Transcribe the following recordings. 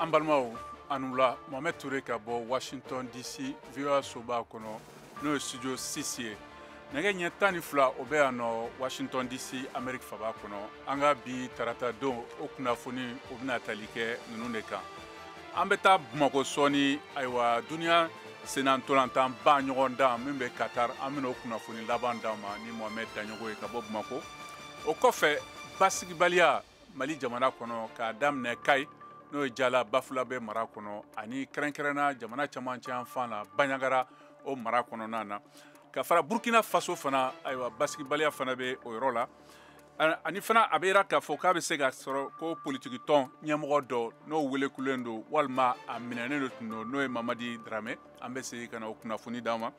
an balimaw aw ni wula mohamɛd ture ka bɔ washington dc voa soba kɔnɔ n'o ye studio 6 ye nɛgɛ ɲɛ tan ni fila o bɛ yan nɔ washington dc amerique faba kɔnɔ an ka bi tarata don o kunnafoniw bɛna tali kɛ ninnu de kan an bɛ taa bamakɔ sɔɔni ayiwa duniya sennantolantanba ɲɔgɔndan min bɛ katar an bɛna o kunnafoni laban d'aw ma ni mohamɛd daɲɔgo ye ka bɔ bamakɔ o kɔfɛ basigibaliya mali jamana kɔnɔ k'a daminɛ kayi n'o ye jala bafulabɛ mara kɔnɔ ani kɛrɛnkɛrɛnna jamana camancɛ yanfan na banɲagara o mara kɔnɔna na ka fara burkina faso fana ayiwa basigibaliya fana bɛ o yɔrɔ la ani fana a bɛ yira k'a fɔ k'a bɛ se ka sɔrɔ ko politiki tɔn ɲɛmɔgɔ dɔ n'o welekulen don walima a minɛnen de tun don n'o ye mamadi darame an bɛ segin ka na o kunnafoni d'aw ma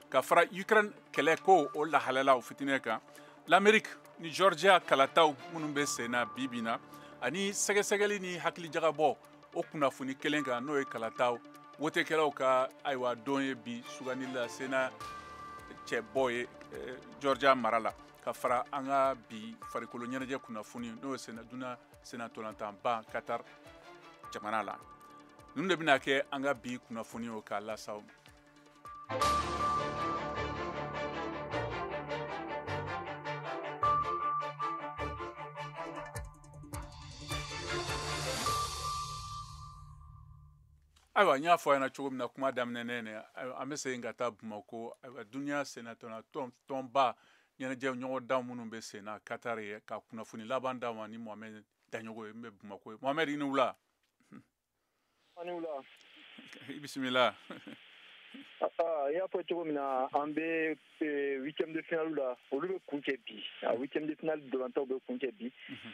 ka fara ukraine kɛlɛ ko o lahalala o fitinɛ kan l'amérique ni georgia kalataw minnu bɛ sen na bi bi na ani sɛgɛsɛgɛli ni hakilijagabɔ o kunnafoni kelen kan n'o ye kalataw wotekɛlaw ka ayiwa don ye bi sugandili la sena cɛbɔ ye eh, georgia mara la ka fara an ka bi farikolo ɲɛnajɛ kunnafoni n'o ye duna sennantolantanba katar jamana la ninnu de bɛna kɛ an ka bi kunnafoniw k'a las'aw ayiwa n y'a fɔ aw ɲɛ na cogo min na kuma daminɛ ne ne an bɛ segin ka taa bamakɔ ayiwa duniya sennantolantanba ɲɛnajɛ ɲɔgɔndan minnu bɛ sen na katari yen ka kunnafoni laban d'aw ma ni mohamɛd daɲɔgo ye min bɛ bamakɔ yen mohamɛd i ni wula A ni wula. I bisimila. Aa, i y'a fɔ cogo min na an bɛ eh, huitième de finale la olu bɛ kuncɛ bi a huitième de finale ntolantanw bɛ kuncɛ bi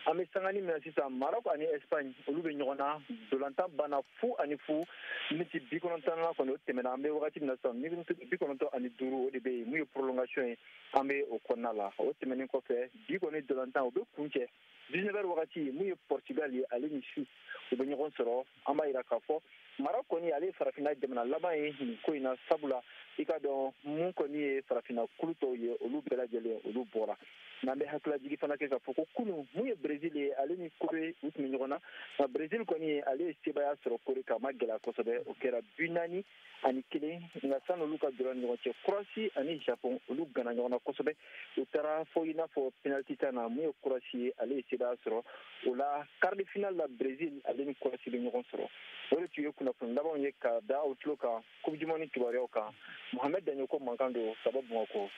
an bɛ sanganin min na sisan Maroc ani Espagne olu bɛ ɲɔgɔn na ntolantan banna fu ani fu miniti bi kɔnɔntɔnnan kɔni o tɛmɛna an bɛ wagati min na sisan miniti bi kɔnɔntɔn ani duuru o de bɛ yen min ye prolongation ye an bɛ o kɔnɔna la o tɛmɛnen kɔfɛ bi kɔni ntolantanw bɛ kuncɛ dix-neuf heures wagati min ye pɔrtugal ye ale ni suisse u bɛ ɲɔgɔn sɔrɔ an b'a yira k'a fɔ maroc kɔni ale ye farafinna jamana laban ye nin ko in na sabula i k'a dɔn min kɔni ye farafinna kulu tɔw ye olu bɛɛ lajɛlen olu bɔra n'an bɛ hakililajigi fana kɛ k'a fɔ ko kunu min ye brezil ye ale ni kore u tun bɛ ɲɔgɔn na nka brezil kɔni ye ale ye sebaaya sɔrɔ kore kan a ma gɛlɛya kosɛbɛ o kɛra bi naani ani kelen nka sani olu ka jɔra ɲɔgɔn cɛ croatie ani japon olu ganna ɲɔgɔn na kosɛbɛ u taara fo i n'a fɔ penaliti tan na mun ye croatie ye ale ye sebaaya sɔrɔ o la quart de finale la brezil ale ni croatie bɛ ɲɔgɔn sɔrɔ o de tun ye kunnafoni labanw ye ka da aw tulo kan coupe du monde kibaruyaw kan mohamed daɲɔkɔ mankan don ka bɔ bamakɔ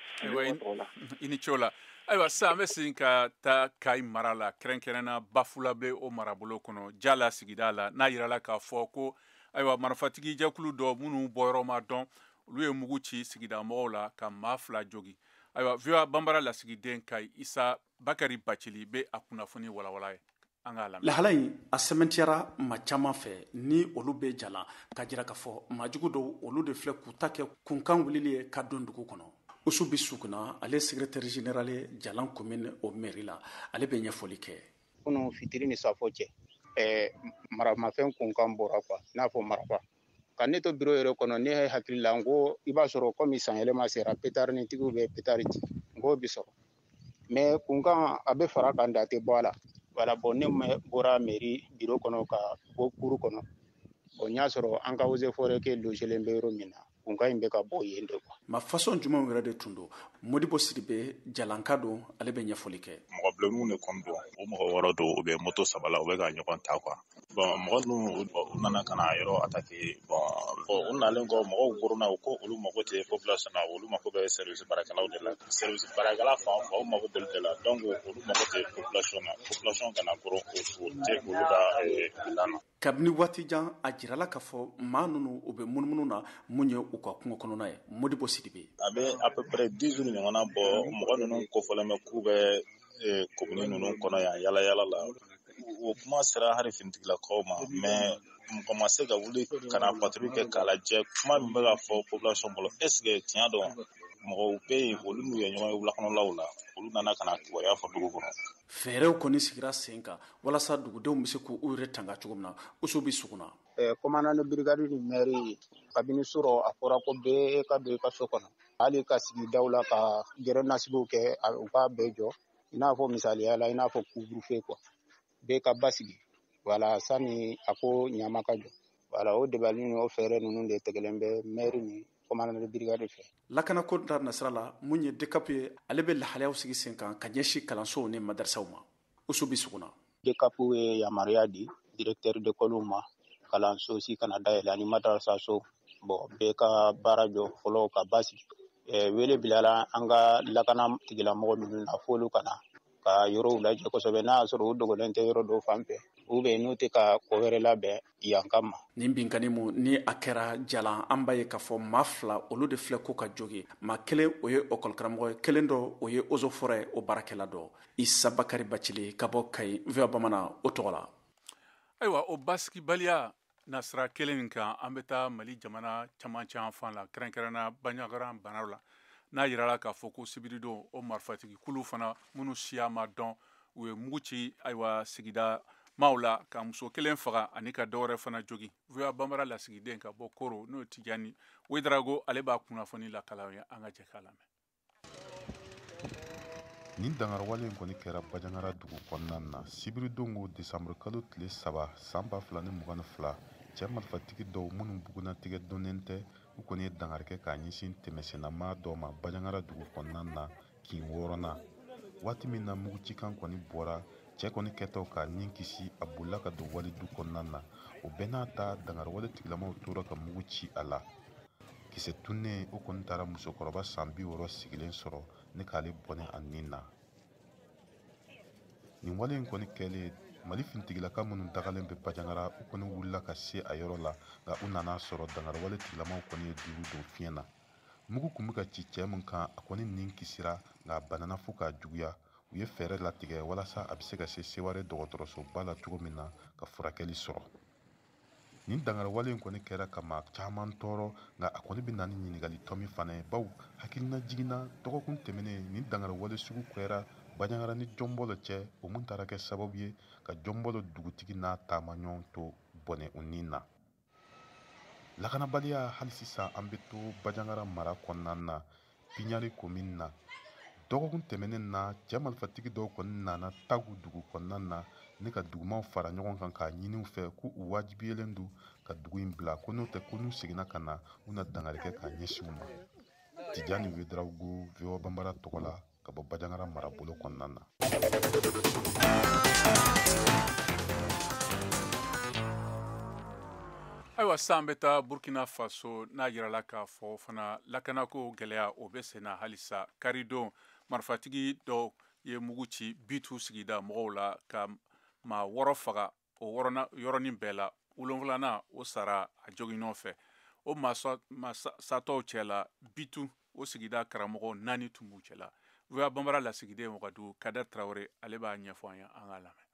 i ni ce o la ayiwa sisan an bɛ segin ka taa kayi mara la kɛrɛnkɛrɛnna bafulabe o marabolo kɔnɔ jalan sigida la n'a yirala k'a fɔ ko ayiwa marifatigi jɛkulu dɔ minnu bɔyɔrɔ ma dɔn olu ye mugu ci sigida mɔgɔw la ka maa fila jogi ayiwa voa banbara lasigiden kayi isa bakari bacili bɛ a kunnafoni walawala ye an k'a lamɛ lahala in a sɛmɛntiyara maa caman fɛ ni olu bɛ jalan k'a jira k'a fɔ maajugu dɔw olu de filɛ k'u ta kɛ kunkan wulili ye ka don dugu kɔnɔ usubi sukuna ale secrétaire général jalan komini o mɛri la ale bɛ ɲɛfɔli kɛ kunun fitiri ni saafo cɛ ɛɛ maramafɛn kunkan bɔra kuwa i n'a fɔ marifa ka ne to biro yɛrɛ kɔnɔ ne hakili la n ko i b'a sɔrɔ kɔmi san yɛlɛma sera petarinitigiw bɛ petari ci n k'o bi sɔrɔ mɛ kunkan a bɛ fara kan dɔ tɛ bɔ a la wala bɔn ne bɔra mɛri biro kɔnɔ ka bɔ cour kɔnɔ bɔn n y'a sɔrɔ an ka eaux et forêts kɛ logelen bɛ yɔrɔ min na kunkan in bɛ ka bɔ yen de kuwa maa fasɔn jumɛnw yɛrɛ de tun don modibo sidibe jalanka don ale bɛ ɲɛfɔli kɛ mɔgɔ bilenninw de kɔni don u mɔgɔ wɔɔrɔ don u bɛ moto saba la u bɛ ka ɲɔgɔn ta kuwa bɔn mɔgɔ ninnu u nana ka na yɔrɔ atake bɔn u nalen kɔ mɔgɔw koronna u ko olu mago tɛ population na olu mago bɛ service baarakɛlaw de la service baarakɛla fɛn o fɛn u mago b'olu de la donc olu mago tɛ population na population kana koron o tɛ olu ka plan na kabini waati jan a jirala k'a fɔ maa ninnu u bɛ munumunu na mun ye u ka kungo kɔnɔna ye modibo sidibe a bɛ à peu près 10 jours ɲɔgɔnna bɔ mɔgɔ ninnu kofɔlen bɛ k'u bɛ komini eh, ninnu kɔnɔ yan yala yala la o kuma sera hali finitigilakaw ma mɛ mɔgɔ ma se ka wuli ka na patrouille kɛ k'a lajɛ kuma min bɛ ka fɔ population bolo est ce que tiɲɛ don mɔgɔw bɛ yen olu n'u ye ɲɔgɔn ye wulakɔnɔlaw la olu nana ka na kibaruya fɔ dugu kɔnɔ fɛɛrɛw kɔni sigira sen kan walasa dugudenw bɛ se k'u yɛrɛ tanga cogo min na usubi sukuna commandant de brigade ni mɛri kabini surɔ a fɔra ko bɛɛ ka don i ka so kɔnɔ hali ka sigi daw la ka gɛrɛn na sigiw kɛ u k'a bɛɛ jɔ i n'a fɔ misaliya la i n'a fɔ couvre-feu kuwa bɛɛ ka basigi wala sani a ko ɲama ka jɔ wala o dabali ni o fɛɛrɛ ninnu de tigɛlen bɛ mɛri ni commandant de brigade fɛ lakana ko da nasira la mun ye dekapu ye ale bɛ lahalayaw sigi sen kan ka ɲɛsin kalansow ni madarisaw ma usubi sukuna dekapu ye yamaruya di direktɛri dekɔliw ma kalanso si kana dayɛlɛ ani madarasaso bɔn bɛɛ ka baara jɔ fɔlɔ ka basigi eh, wele bilala an ka lakana tigilamɔgɔ ninnu na f'olu ka na ka yɔrɔw lajɛ kosɛbɛ n'a y'a sɔrɔ u dogolen tɛ yɔrɔ dɔw fan fɛ u bɛ n'u tɛ ka ko wɛrɛ labɛn yan kama nin binkanni mu ni a kɛra jalan an b'a ye k'a fɔ maa fila olu de filɛ ko ka jogi maa kelen o ye ekɔlikaramɔgɔ ye kelen dɔ o ye ozofɔrɛ o baarakɛla dɔ isa bakari bacili ka bɔ kayi voa bamanan o tɔgɔ la ayiwa o basigibaliya nasira kelen nin kan an bɛ taa mali jamana camancɛ fan la kɛrɛnkɛrɛnna banyagaran banaw la n'a yirala k'a fɔ ko sibiridon o marifatigi kulu fana minnu siya ma dɔn u ye mugu ci ayiwa sigida maaw la ka muso kelen faga ani ka dɔwɛrɛ fana jogi voa banbara lasigiden ka bɔ koro n'o tijani wedarago ale b'a kunnafoni lakali an ye an ka jɛ k'a lamɛn nin dangariwale in kɔni kɛra bajangara dugu kɔnɔna na sibiridongo desanburukalo tile saba san ba fila ni mugan ni fila cɛ marifatigi dɔw minnu bugunnatigɛ donnen tɛ u kɔni ye dangari kɛ k'a ɲɛsin tɛmɛsennamaa dɔ ma bajangara dugu kɔnɔna na kin wɔɔrɔnan waati min na mugucikan kɔni bɔra cɛ kɔni kɛtɔ k'a nin kisi a bolila ka don wali du kɔnɔna na o bɛɛ n'a ta dangariwale tigilamaw tora ka mugu ci a la kisɛ tunnen o kɔni taara musokɔrɔba san bi wɔɔrɔ sigilen sɔrɔ ni k'ale bɔnɛ a nin na nin wale in kɔni kɛlen mali finitigilaka minnu dagalen bɛ bajangara u kɔni wulila ka se a yɔrɔ la nka u nana sɔrɔ dangariwale tigilamaw kɔni ye duuru don fiɲɛ na mugu tun bɛ ka ci cɛ min kan a kɔni nin kisira nka a banana fo ka juguya u ye fɛɛrɛ latigɛ walasa a bɛ se ka se seware dɔgɔtɔrɔsoba la cogo min na ka furakɛli sɔrɔ nin dangariwale in kɔni kɛra ka maa caman tɔɔrɔ nka a kɔni bɛ na ni ɲininkali tomi fana ye b'aw hakilina jiginna dɔgɔkun tɛmɛnen nin dangariwale sugu kɛra baɲangara ni jɔnbɔlɔ cɛ o mun taara kɛ sababu ye ka jɔnbɔlɔ dugutigi n'a taamaɲɔgɔn tɔ bɔnɛ u nin na lakanabaliya hali sisan an bɛ to bajangara mara kɔnɔna na piɲari komini na dɔgɔkun tɛmɛnen na cɛ marifatigi dɔw kɔni nana tagu dugu kɔnɔna na ni ka dugumaw fara ɲɔgɔn kan k'a ɲini u fɛ ko u wajibiyelen don ka dugu in bila ko n'o tɛ ko n'u seginna ka na u na dangari kɛ k'a ɲɛsin u ma tijani wedarawogo voa banbara tɔgɔ la ka bɔ bajangara marabolo kɔnɔna na ayiwa san bɛ taa burkina faso n'a yirala k'a fɔ fana lakanako gɛlɛya o bɛ senna halisa karidon marifatigi dɔ ye mugu ci bitu sigida mɔgɔw la ka maa wɔɔrɔ faga o yɔrɔnin bɛɛ la wolonfilanan o sara a joginnɔ fɛ o maa satɔw cɛ la bitu o sigida karamɔgɔ naani tun b'u cɛ la voa banbara lasigiden wagadugu kader tarawele ale b'a ɲɛfɔ an ye an ka lamɛn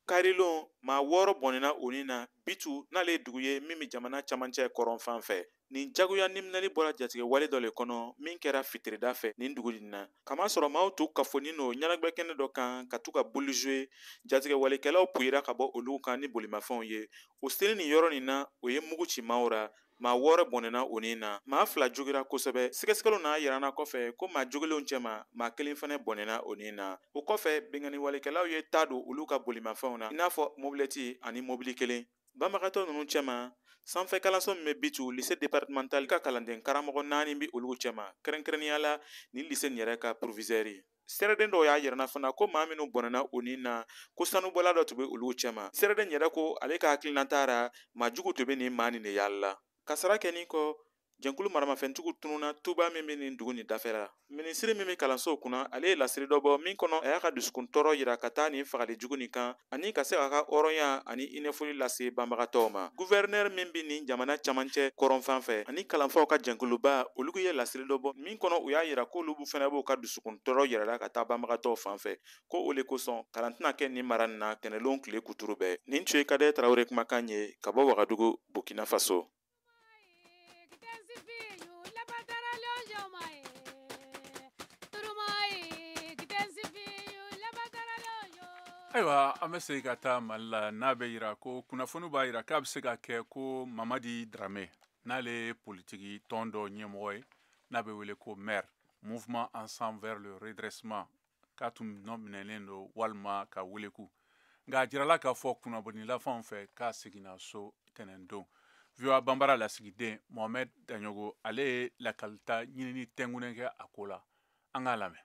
karilon maa wɔɔrɔ bɔnɛna u nin na bitu n'ale ye dugu ye min bɛ jamana camancɛ kɔrɔnfan fɛ nin jagoya niminɛli bɔra jatigɛ wale dɔ le kɔnɔ min kɛra fitirida fɛ nin dugu nin na k'a masɔrɔ maaw tun kafonin lo ɲɛnagwɛ kɛnɛ dɔ kan ka to ka boule jouer jatigɛ walekɛlaw puyira ka bɔ olu kan ni bolimafɛnw ye o senin nin yɔrɔ nin na o ye mugu ci maaw ra maa wɔɔrɔ bɔnɛna o ni na maa fila jogira kosɛbɛ sɛgɛsɛgɛliw n'a yirana kɔfɛ ko maa jogilenw cɛma maa kelen fɛnɛ bɔnɛna o ni na o kɔfɛ binkanniwalekɛlaw ye taa don olu ka bolimafɛnw na i n'a fɔ mobilɛti ani mobili kelen banbagatɔ ninnu cɛma sanfɛ kalanso min bɛ bitu lycée départemental ka kalanden karamɔgɔ naani bɛ olu cɛma kɛrɛnkɛrɛnnenya la ni lycée nin yɛrɛ ka proviseur seereden dɔw y'a yirana fana ko maa minnu bɔnɛna o ni na ko sanubɔla dɔ tun bɛ olu cɛma seereden yɛrɛ ko ale ka hakilinata ra maa jugu tun bɛ nin maa nin de yaala la kasara kɛnin kɔ jɛnkulu maramafɛntigiw tununa tuba min bɛ nin dugu nin dafɛla la minisiri min bɛ kalansow kunna ale ye lasiri dɔ bɔ min kɔnɔ a y'a ka dusukun tɔɔrɔ yira ka taa nin fagali jugu nin kan ani ka se k'a ka hɔrɔnya ani hinɛfoli lase banbagatɔw ma guvɛrinɛri min bɛ nin jamana camancɛ kɔrɔnfan fɛ ani kalanfaw ka jɛnkuluba olu ye lasiri dɔ bɔ min kɔnɔ u y'a yira k'olu fana b'u ka dusukun tɔɔrɔ yirala ka taa banbagatɔw fan fɛ ko o le kosɔn kalan tɛna kɛ nin mara nin na tɛnɛlon tile kuturu bɛɛ nin tun ye kader tarawele kumakan ye ka bɔ wagadugu burkina faso ayiwa an bɛ segin ka taa mali la n'a bɛ yira ko kunnafoni b'a yira k'a bɛ se ka kɛ ko mamadi darame n'ale ye politiki tɔn dɔ ɲɛmɔgɔ ye n'a bɛ wele ko MER mouvement ensemble vers le redressement k'a tun nɔ minɛlen don walima ka weleku nka a jirala k'a fɔ kunnafonilafanw fɛ k'a seginna so tɛnɛndon voa banbara lasigiden mohamɛd daɲogo ale ye lakalita ɲinini tɛnkunnen kɛ a ko la an k'a lamɛn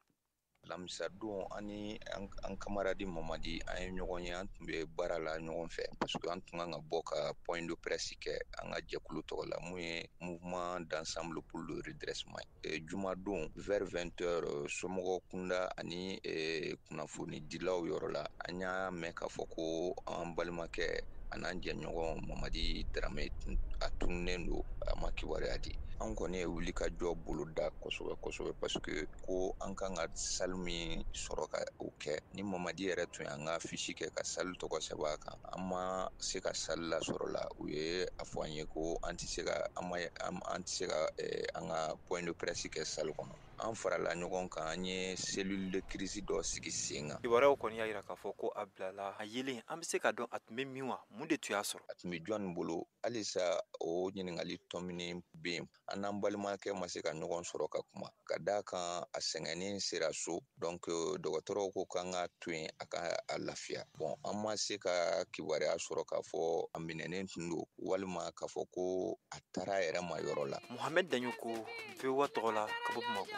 lamisadon an ni an kamaradi mamadi an ye ɲɔgɔn ye an tun bɛ baara la ɲɔgɔn fɛ parce que an tun kan ka bɔ ka point de presse kɛ an ka jɛkulu tɔgɔ la min ye mouvement d'ensemble pour le redressement ye Eh, jumadon vers 20 heures eh, somɔgɔ kunda ani eh, kunnafonidilaw yɔrɔ la an y'a mɛn k'a fɔ ko an balimakɛ an'an jɛɲɔgɔn mamadi darame a tununnen don a ma kibaruya di an kɔni ye wuli ka jɔ bolo da kosɛbɛ kosɛbɛ parce que ko an kan ka salle min sɔrɔ ka o kɛ ni mamadi yɛrɛ tun y'an ka fiche kɛ ka salle tɔgɔ sɛbɛn a kan an ma se ka salle lasɔrɔ la u ye a fɔ an ye ko an tɛ se ka an ma an tɛ se ka an ka point de presse kɛ salle kɔnɔ an farala ɲɔgɔn kan an ye cellule de crise dɔ sigi sen kan kibaruyaw kɔni y'a yira k'a fɔ ko a bilala a yelen an bɛ se ka dɔn a tun bɛ min wa mun de tun y'a sɔrɔ a tun bɛ jɔn bolo halisa o ɲininkali tominin bɛ yen an n'an balimakɛ ma se ka ɲɔgɔn sɔrɔ ka kuma ka d'a kan a sɛgɛnnen sera so donc dɔgɔtɔrɔw ko k'an ka to yen a ka a lafiya bon an ma se ka kibaruya sɔrɔ k'a fɔ a minɛnen tun don walima k'a fɔ ko a taara a yɛrɛ ma yɔrɔ la Mohamed Daɲoko VOA tɔgɔ la ka bɔ Bamakɔ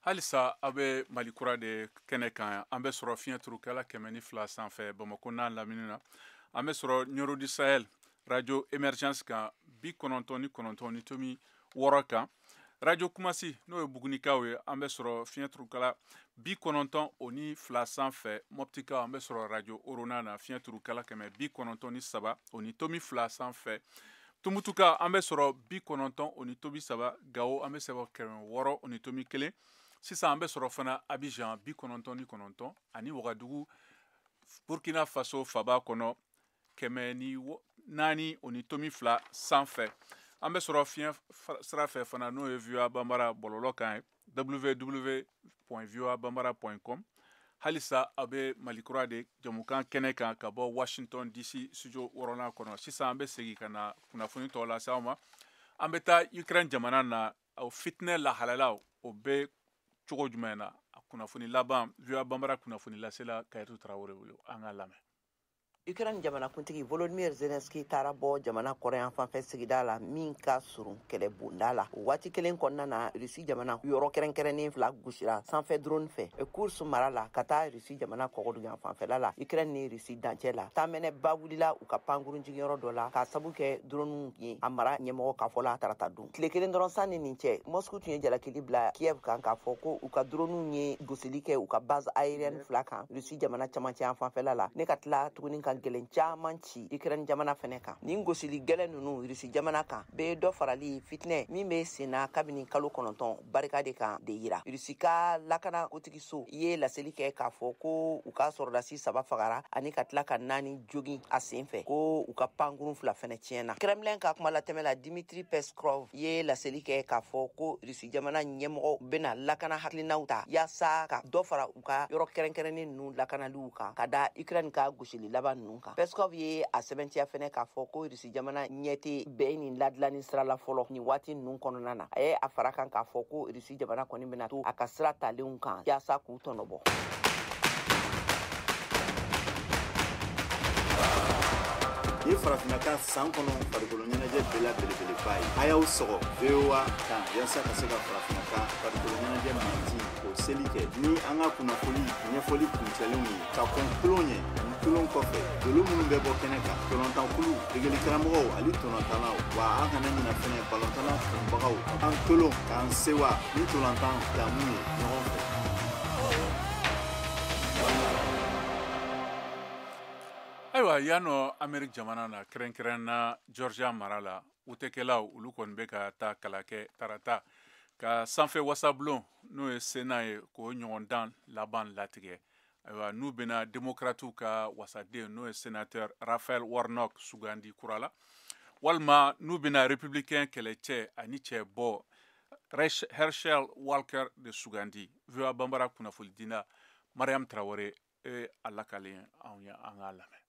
halisa aw bɛ mali kura de kɛnɛ kan yan an bɛ sɔrɔ fiɲɛ turukala kɛmɛ ni fila sanfɛ bamako n'a lamini na an bɛ sɔrɔ nioro du sahel radio emergence kan bi kɔnɔntɔn ni kɔnɔntɔn ni tomi wɔɔrɔ kan radio kumasi n'o ye bugunikaw ye an bɛ sɔrɔ fiɲɛ turukala bi kɔnɔntɔn o ni fila sanfɛ mɔptikaw an bɛ sɔrɔ radio orona na fiɲɛ turukala kɛmɛ bi kɔnɔntɔn ni saba o ni tomi fila sanfɛ tumutukaw an bɛ sɔrɔ bi kɔnɔntɔn o ni tomi saba gawo an bɛ sɔrɔ kɛmɛ wɔɔrɔ o ni tomi kelen sisan an bɛ sɔrɔ fana abijan bi kɔnɔntɔn ni kɔnɔntɔn ani wagadugu burkina faso faba kɔnɔ kɛmɛ ni naani o ni tomi fila sanfɛ an bɛ sɔrɔ fiɲɛ sira fɛ fana n'o ye voa banbara bɔlɔlɔ kan ye www.voabambara.com halisa a bɛ mali kura de jamukan kɛnɛ kan ka bɔ washington dc studio wɔɔrɔnan kɔnɔ sisan an bɛ segin ka na kunnafoni tɔw lase aw ma an bɛ taa ukraine jamana na o fitinɛ lahalalaw o bɛ cogo jumɛn na a kunnafoni laban voa bambara kunnafoni lasela kadiatu tarawele bolo an k'a lamɛn Ukraine jamanakuntigi Volodymyr Zelensky taara bɔ jamana kɔrɔnyanfan fɛ sigida la min ka surun kɛlɛbonda la o waati kelen kɔnɔna na Russie jamana yɔrɔ kɛrɛnkɛrɛnnen fila gosira sanfɛ drone fɛ Kursk mara la ka taa Russie jamana kɔgɔduguyanfanfɛla la Ukraine ni Russie dancɛ la tamɛnɛba wulila u ka pankurun jigiyɔrɔ dɔ la k'a sabu kɛ dronew ye a mara ɲɛmɔgɔ ka fɔ la tarata don tile kelen dɔrɔn sanni nin cɛ mɔsku tun ye jalakili bila kiev kan k'a fɔ ko u ka droniw ye gosili kɛ u ka base aérienne fila kan rusi jamana camancɛ yan fanfɛla la ani ka tila tuguni ka gwɛlɛn caaman ci ukraine jamana fɛnɛ kan nin gosili gwɛlɛn nunu rusi jamana kan be dɔ farali fitinɛ min be senna kabini kalo kɔnɔntɔn barika de kan de yira rusi ka lakana kotigi so ye laseli kɛ k'a fɔ ko u ka sɔrɔdasi saba fagara ani ka tila ka naani jogin a sen fɛ ko u ka pankurun fila fɛnɛ tiɲɛna kremlin ka kuma latɛmɛla dimitri peskov ye laseli kɛ k'a fɔ ko rusi jamana ɲɛmɔgɔw bena lakana hakilinaw ta yaasa ka dɔ fara u ka yɔrɔ kɛrɛnkɛrɛnnen nunu lakanaliw kan ka da ukraine ka gosili laban nunu kan peskov ye a sɛbɛntiya fɛnɛ k'a fɔ ko jamana ɲɛ tɛ bɛn ni ladilanni sira la fɔlɔ nin waati ninnu kɔnɔna na a ye a fara kan k'a fɔ ko rusi jamana kɔni bɛna to a ka sira talenw kan yaasa k'u tɔnɔbɔ nin ye farafinna ka san kɔnɔ farikolo ɲɛnajɛ bɛɛ la belebeleba ye a y'aw sɔgɔ voa kan yaasa ka se ka farafinna ka farikolo ɲɛnajɛ manti o seli kɛ ni an ka kunnafoni ɲɛfɔli kuncɛlenw ye ka kɔn tolon ɲɛ ani tolon kɔfɛ dolo minnu bɛ bɔ kɛnɛ kan ntolatankulu degeli karamɔgɔw ani ntolatannaw wa an kana ɲina fɛnɛ balɔntan kanubagaw an tolon k'an sewa ni ntolatan damu ye ɲɔgɔn fɛ ayiwa yan nɔ ameriki jamana na kɛrɛnkɛrɛn na georgia mara la wotekɛlaw olu kɔni bɛ ka taa kala kɛ tarata ka sanfɛ wasabulon n'o ye sena ye k'o ɲɔgɔndan laban latigɛ ayiwa n'u bɛna demokratiw ka wasaden n'o ye senatɛr rafael warnock sugandi kura la walima n'u bɛna republikɛn kɛlɛcɛ ani cɛbɔ herschel walker de sugandi voa banbara kunnafonidila mariam tarawele y'a lakali anw ye an k'a lamɛn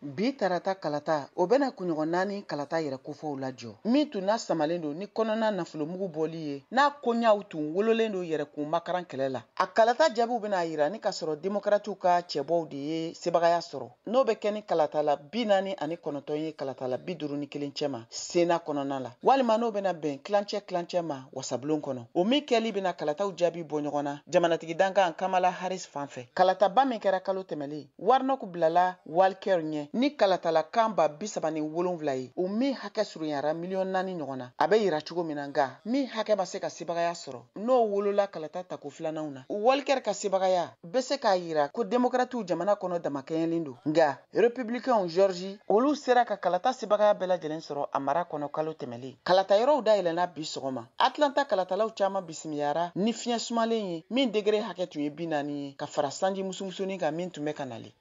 Bi tarata kalata, o bɛna kunɲɔgɔn naani kalata yɛrɛ kofɔw lajɔ, min tun lasamalen don ni kɔnɔna nafolomugu bɔli ye, n'a koɲaw tun wololen don yɛrɛkun makaran kɛlɛ la. A kalata jaabiw bɛna a jira ni k'a sɔrɔ Democratiw ka cɛbɔw de ye sebagaya sɔrɔ, n'o bɛ kɛ ni kalatala bi naani ani kɔnɔntɔn ye kalatala bi duuru ni kelen cɛma Sena kɔnɔna la, walima n'o bɛna bɛn tilancɛ tilancɛ ma wasabulon kɔnɔ. O min kɛli bɛna kalataw jaabi bɔ ɲɔgɔn na jamanatigi dankan Kamala Harris fan fɛ. Kalataba min kɛra kalo tɛmɛlen, Warnock bilala Walker ɲɛ ni kalatala kan ba bi saba ni wolonwula ye, o min hakɛ surunyara miliyɔn naani ɲɔgɔn na. A bɛ jira cogo min na, nka min hakɛ ma se ka sebagaya sɔrɔ, n'o wolola kalata tako filananw na. Walker ka sebagaya bɛ se k'a jira ko Democratiw jamana kɔnɔ damakɛɲɛlen don, nka Republicainw Georgie, olu sera ka kalata sebagaya bɛɛ lajɛlen sɔrɔ a mara kɔnɔ kalo tɛmɛlen. Kalata yɔrɔw dayɛlɛnna bi sɔgɔma. atlanta kalatalaw caaman bisimiyara ni fiɲɛ sumalen ye min degere hakɛ tun ye bi naani ye ka fara sanji musumusunin kan min tun bɛ ka nali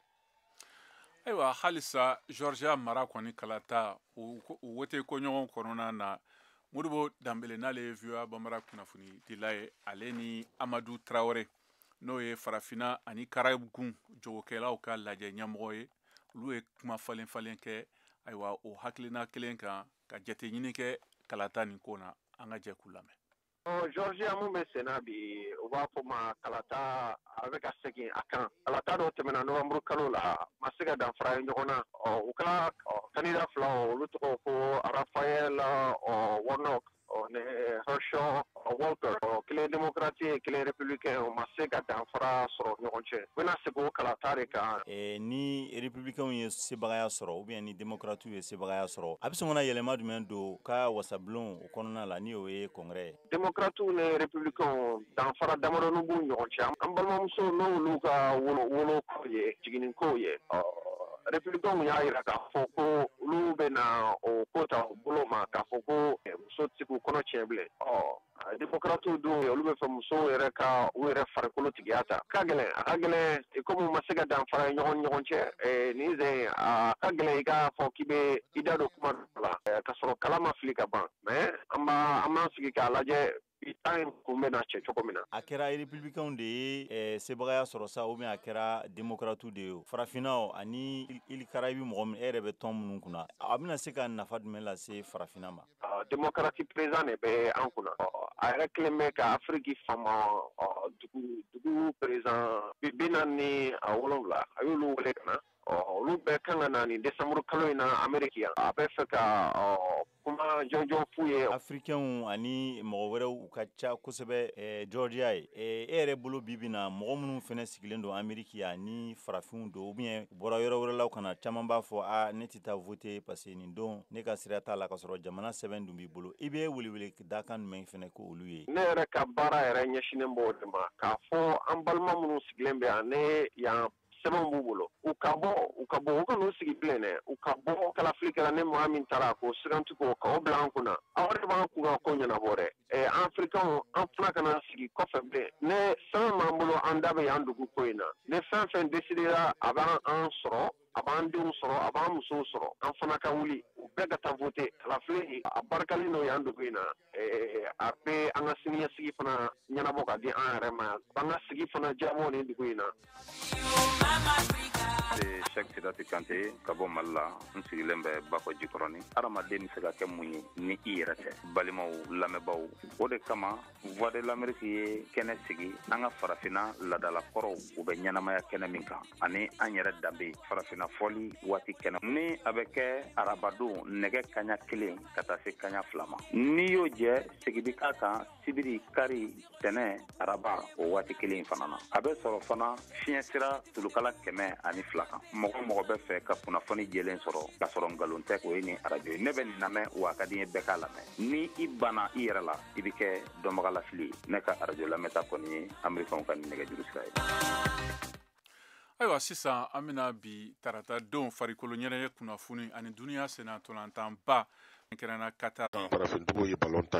ayiwa halisa georgia mara kɔni kalata o wote koɲɔgɔn kɔnɔna na modibo danbele n'ale ye voa banbara kunnafonidila ye ale ni amadu tarawele n'o ye farafina ani karayibu gun jagokɛlaw ka lajɛ ɲɛmɔgɔ ye olu ye kuma falen falen kɛ ayiwa o hakilina kelen kan ka jateɲini kɛ kalata nin ko na an ka jɛ k'u lamɛn georgia mun bɛ senna bi u b'a fɔ ma kalata a bɛ ka segin a kan kalata dɔ tɛmɛna nowanburu kalo la ma se ka danfara ye ɲɔgɔn na u ka kandida fila olu tɔgɔ ko rafael warnock ni herschel walker kelen demokrati ye kelen republikɛn o ma se ka danfara sɔrɔ ɲɔgɔn cɛ u bɛna segin o kalata de kan ni republikɛnw ye sebagaya sɔrɔ ou bien ni demokrati ye sebagaya sɔrɔ a bɛ sɔn ka yɛlɛma jumɛn don ka wasabulon o kɔnɔna la ni o ye kongrɛ demokratiw ni republikɛnw danfara damadɔnin b'u ɲɔgɔn cɛ an balimamuso n'olu ka woloko ye jiginni kow ye republikɛnw y'a jira k'a fɔ ko olu bɛna o ko ta u bolo ma k'a fɔ ko muso tɛ se k'u kɔnɔ tiɲɛ bilen ɔ Démocrates dun olu bɛ fɛ musow yɛrɛ ka u yɛrɛ farikolo tigiya ta, a ka gɛlɛn, a ka gɛlɛn comme u ma se ka danfara ye ɲɔgɔn ni ɲɔgɔn cɛ, ɛɛ nin sen in a ka gɛlɛn i k'a fɔ k'i bɛ i da don kuma dɔ la ka sɔrɔ kala ma fili ka ban mais an b'a an b'an sigi k'a lajɛ bi ta in kun bɛna cɛ cogo min na. A kɛra Républicains de ye ɛɛ sebagaya sɔrɔ sa ou bien a kɛra Démocrates de ye o, farafinna o ani îles Caraïbes mɔgɔ min e yɛrɛ bɛ tɔn minnu kunna, a bɛna se ka nafa jumɛn lase farafinna ma? Démocrate président de bɛ an kunna a yɛrɛ kelen bɛ ka afiriki fama dugu président bi naani ni wolowula a y'olu wele ka na ɔ olu bɛɛ kan ka na nin décembre kalo in na Amérique yan a bɛ fɛ ka kuma jɔnjɔn f'u ye Africains ani mɔgɔ wɛrɛw u ka ca kosɛbɛ Georgia ye e yɛrɛ bolo bi bi in na mɔgɔ minnu fɛnɛ sigilen don Amérique yan ni farafinw don ou bien u bɔra yɔrɔ wɛrɛ la ka na caman b'a fɔ a ne tɛ taa voter parce que nin don ne ka sira t'a la ka sɔrɔ jamana sɛbɛn dun b'i bolo i bɛ weleweleda kan jumɛn fɛnɛ k'olu ye ne yɛrɛ ka baara yɛrɛ ɲɛsinnen b'o de ma k'a fɔ an balima minnu sigilen bɛ yan ni yan sɛbɛn b'u bolo u ka bɔ u ka bɔ u kan'u sigi bilen dɛ u ka bɔ kalafili kɛra ni mɔgɔ min tara k'o sugandi k'o bila an kunna o de b'an kunkanko ɲɛnabɔ dɛ an Africains an fana kana sigi kɔfɛ bilen ni sɛbɛn b'an bolo an da bɛ yan dugu ko in na ni fɛn fɛn décidera a b'an sɔrɔ a b'an denw sɔrɔ a b'an musow sɔrɔ an fana ka wuli u bɛɛ ka taa vote kalafili a barikalen don yan dugu in na eh, a bɛ an ka siniɲɛsigi fana ɲɛnabɔ ka di an yɛrɛ ma yan an ka sigi fana diyabɔ nin dugu in na Sɛk Sidati Kante ka bɔ Mali la n sigilen bɛ Bakɔ Jikɔrɔni. Adamaden bɛ se ka kɛ mun ye ni i yɛrɛ tɛ balimaw lamɛnbaaw o de kama Voix de l'Amérique ye kɛnɛ sigi an ka farafina ladala kɔrɔw u bɛ ɲɛnamaya kɛnɛ min kan ani an yɛrɛ danbe farafina fɔli waati kɛnɛ nin a bɛ kɛ arabadon nɛgɛ kaɲa kelen ka taa se kaɲa fila ma n'i y'o jɛ segin bɛ k'a kan sibiri kari tɛnɛ araba o waati kelen in fana na a bɛ sɔrɔ fana fiɲɛ sira tulukala kɛmɛ ani fila kan mɔgɔ o mɔgɔ bɛ fɛ ka kunnafoni jɛlen sɔrɔ k'a sɔrɔ nkalon tɛ o ye nin arajo ye ne bɛ nin lamɛn wa a ka di n ye bɛɛ k'a lamɛn ni i banna i yɛrɛ la i bɛ kɛ dɔnbagalafili ye ne ka arajo lamɛnta kɔni ye amerikaw ka nɛgɛjuru sira ye ayiwa sisan an bɛna bi tarata don farikolo ɲɛnajɛ kunnafoni ani duniya senna ntolantanba kɛrɛnna Qatar farafindugu ye balon ta